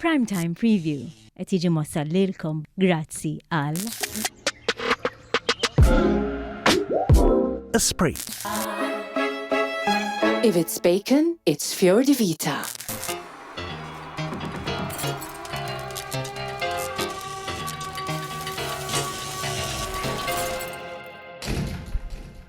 Prime Time Preview qed jiġi mwassal lilkom grazzi għal Esprit. If it's bacon, it's Fior di Vita.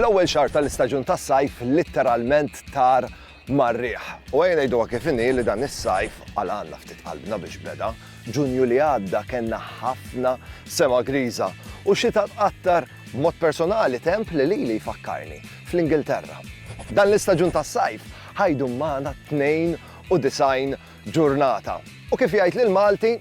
L-ewwel xahar tal-istaġun tas-sajf litteralment tar marriħ. U għajna jdu kif inni li dan is-sajf għal għanna ftit qalbna biex beda, ġunju li għadda kena ħafna sema griża u xita tqattar mod personali temp li li li jfakkarni fl-Ingilterra. Dan l-istaġun tas-sajf ħajdu maħna u disgħin ġurnata. U kif jgħid l-Malti,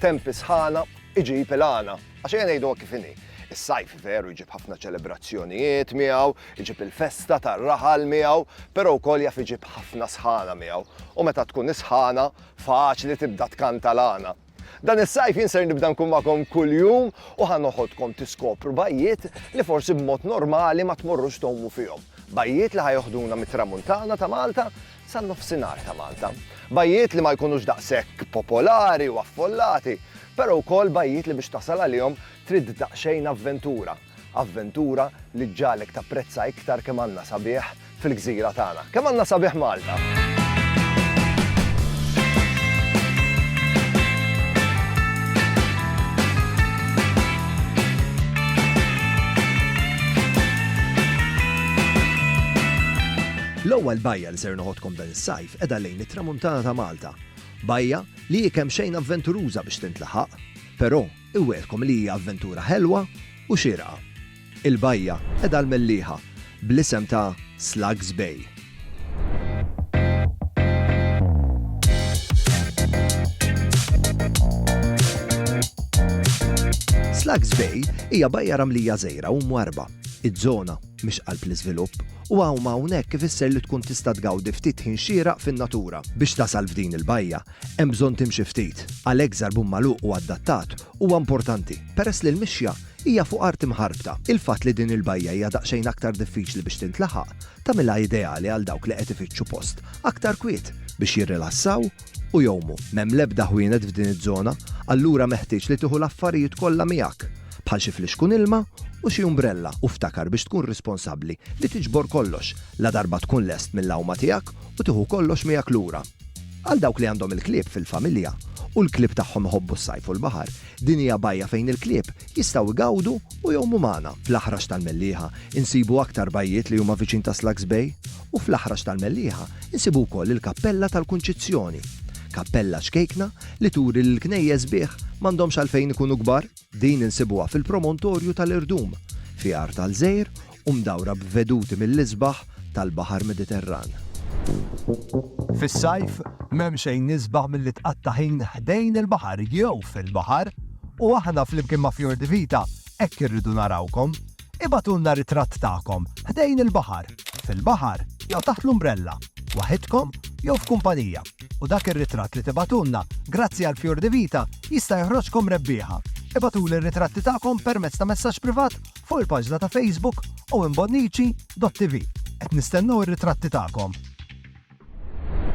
tempi sħana iġib il-għana. Għax ejja ngħidu kif inhi. Is-sajf veru jġib ħafna ċelebrazzjonijiet miegħu, iġib il-festa tar-raħal miegħu, però wkoll jaf iġib ħafna sħana miegħu. U meta tkun is-sħana, faċli tibda tkanta l-għana. Dan is-sajf jien ser nibda nkun magħkom kuljum u ħa noħodkom tiskopru bajjiet li forsi b'mod normali ma tmorrux tgħumu fihom. Bajjiet li ħajoħduna mit-tramuntana ta' Malta san-nofsinhar ta' Malta. Bajjiet li ma jkunux daqshekk popolari u affollati, però wkoll bajjiet li biex tasal għalihom trid daqsxejn avventura. Avventura li ġġagħlek tapprezza iktar kemm għandna sabiħ fil-gżira tagħna. Kemm għandna sabiħ Malta! L-ewwel bajja li ser noħodkom dan is-sajf qiegħda lejn it-Tramuntana ta' Malta. Bajja li hi kemm xejn avventuruża biex tintlaħaq, però Iwegħedkom li hija avventura ħelwa u xierqa. Il-bajja qegħda l-mellieħa bl-isem ta' Slugs Bay. Slugs Bay hija bajja ramlija żgħira u mwarrba. Iż-żona mhix qalb l-iżvilupp u hawn ma hawnhekk ifisser li tkun tista' tgawdi ftit ħin xieraq fin-natura. Biex tasal f'din il-bajja, Hemm bżonn timxi ftit, għalhekk żarbun magħluq u adattat huwa importanti peress li l-mixja hija fuq art imħarbta. Il-fatt li din il-bajja hija daqsxejn aktar diffiċli biex tintlaħaq tagħmilha ideali għal dawk li qed ifittxu post aktar kwiet biex jirrilassaw u jgħumu. M'hemm l-ebda ħwienet f'din iż-żona, allura meħtieġ li tieħu l-affarijiet kollha miegħek, bħal xi flixkun ilma u xi umbrella u ftakar biex tkun responsabbli li tiġbor kollox ladarba tkun lest mill-għawma tiegħek u tieħu kollox miegħek lura. Għal dawk li għandhom il-klieb fil-familja u l-klieb tagħhom iħobbu s-sajf u l-baħar, din hija bajja fejn il-klieb jistgħu jgawdu u jgħumu magħna. Fl-Aħrax tal-Mellieħa insibu aktar bajjiet li huma viċin ta' Slugs Bay u fl-Aħrax tal-Mellieħa insibu wkoll il-Kappella tal-Kunċizzjoni. Kappella ċkejkna li turi li l-knejjes sbieħ m'għandhomx għalfejn ikunu kbar. Din insibuha fil-promontorju tal-Irdum, fi Għar tal-Żejr u mdawra b'veduti mill-isbaħ tal-Baħar Mediterran. Fis-sajf, m'hemm xejn isbaħ milli tqatta' ħin ħdejn il-baħar jew fil-baħar u aħna flimkien ma' Fjordivita hekk irridu narawkom. Ibagħtulna ritratt tagħkom ħdejn il-baħar, fil-baħar jew taħt l-umbrella, waħidkom jew f'kumpanija, u dak ir-ritratt li tibagħtulna grazzi għal Fjur di Vita jista' joħroġkom rebbieħa. Ibagħtuli r-ritratti tagħkom permezz ta' messaġġ privat fuq il-paġna ta' Facebook owenbonnici.tv. Qed nistennew ir-ritratti tagħkom!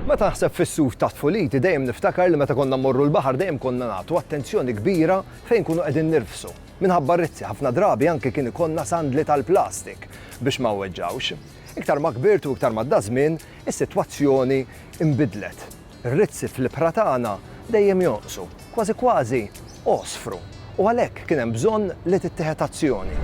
Meta naħseb fis-suf ta' tfuliti dejjem niftakar li meta konna mmorru l-baħar dejjem konna nagħtu attenzjoni kbira fejn nkunu qegħdin nirfsu. Minħabba r-rizzi ħafna drabi anki kien ikollna sandli tal-plastik biex ma nweġġgħux. Iktar ma kbirt u iktar m'għadda żmien, is-sitwazzjoni nbidlet. Ir-rizzi fl-ibħra tagħna dejjem jonqsu. Kważi kważi għosfru u għalhekk kien hemm bżonn li tittieħed azzjoni.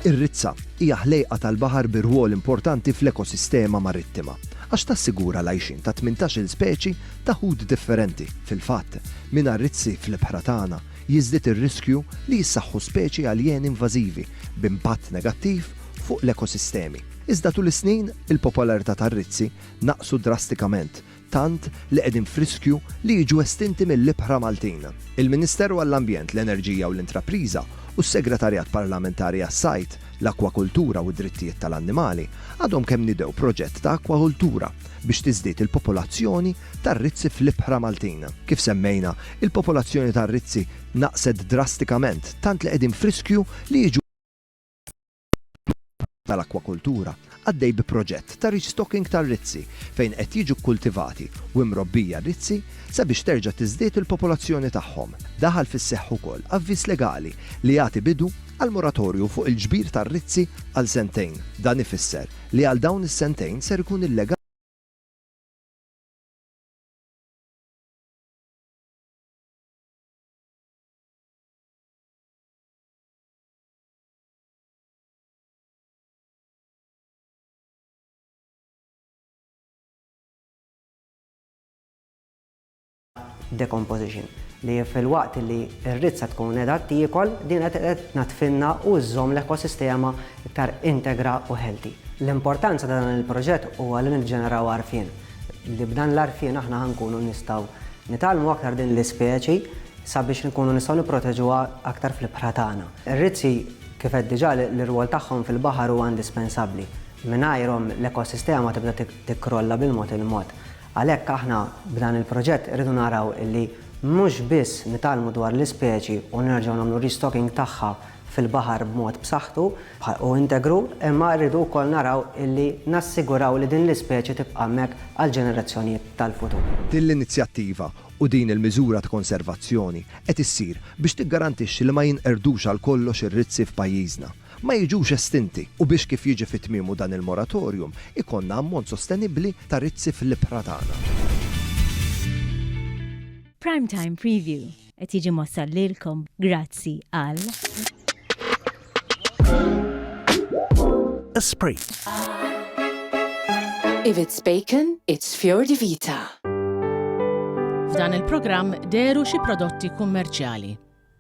Ir-rizza hija ħlejqa tal-baħar bi rwol importanti fl-ekosistema marittima għax tassigura l-għajxien ta' tmintax-il speċi ta' ħut differenti. Fil-fatt, mingħajr rizzi fl-ibħra tagħna jiżdied ir-riskju li jissaħħu speċi aljeni invażivi b'impatt negattiv fuq l-ekosistemi. Iżda tul is-snin, il-popolarità tar-rizzi naqsu drastikament tant li qegħdin f'riskju li jiġu estinti mill-ibħra Maltin. Il-Ministeru għall-Ambjent, l-Enerġija u l-Intrapriża u s-Segretarjat Parlamentari għas-Sajd, l-Akkwakultura u d-Drittijiet tal-Annimali għadhom kemm nidew proġett ta' akkwakultura biex tiżdied il-popolazzjoni tar-rizzi fl-ibħra Maltin. Kif semmejna, il-popolazzjoni tar-rizzi naqset drastikament tant li qegħdin f'riskju li jiġu Id-Dipartiment tal-Akkwakultura għaddej bi proġett ta' restocking tar-rizzi fejn qed jiġu kkultivati u imrobbija rizzi sabiex terġa' tiżdied il-popolazzjoni tagħhom. Daħal fis-seħħ ukoll avviż legali li jagħti bidu għal moratorju fuq il-ġbir tar-rizzi għal sentejn. Dan ifisser li għal dawn is-sentejn ser ikun illegali. decomposition li fil-waqt li r-rizza tkun edha tiekol din qed tnatfinna u żżomm l-ekosistema iktar integra u healthy. L-importanza ta' dan il-proġett huwa li niġġeneraw għarfien li b'dan l-għarfien aħna ħankunu nistgħu nitgħallmu aktar din l-ispeċi sabiex inkunu nistgħu nipproteġuha aktar fl-ibħra tagħna. Ir-rizzi, kif għedt diġà, l-irwol tagħhom fil-baħar huwa indispensabbli. Mingħajrhom, l-ekosistema tibda tikkrolla bil-mod il-mod. Għalhekk aħna, b'dan il-proġett, irridu naraw li mhux biss nitgħallmu dwar l-ispeċi u nerġgħu nagħmlu restocking tagħha fil-baħar b'mod b'saħħtu u integru, imma rridu wkoll naraw li nassiguraw li din l-ispeċi tibqa' hemmhekk għall-ġenerazzjonijiet tal-futur. Din l-inizjattiva u din il-miżura ta' konservazzjoni qed issir biex tiggarantixxi li ma jinqerdux għal kollox ir-rizzi f'pajjiżna, ma jiġux estinti u biex kif jiġi fi tmiemu dan il-moratorium ikollna ammont sostenibbli ta' rizzi fl-ibħra tagħna. Prime Time Preview qed jiġi mwassal lilkom grazzi għal. Esprit. If it's bacon, it's Fior di Vita. F'dan il-programm deru xi prodotti kummerċjali.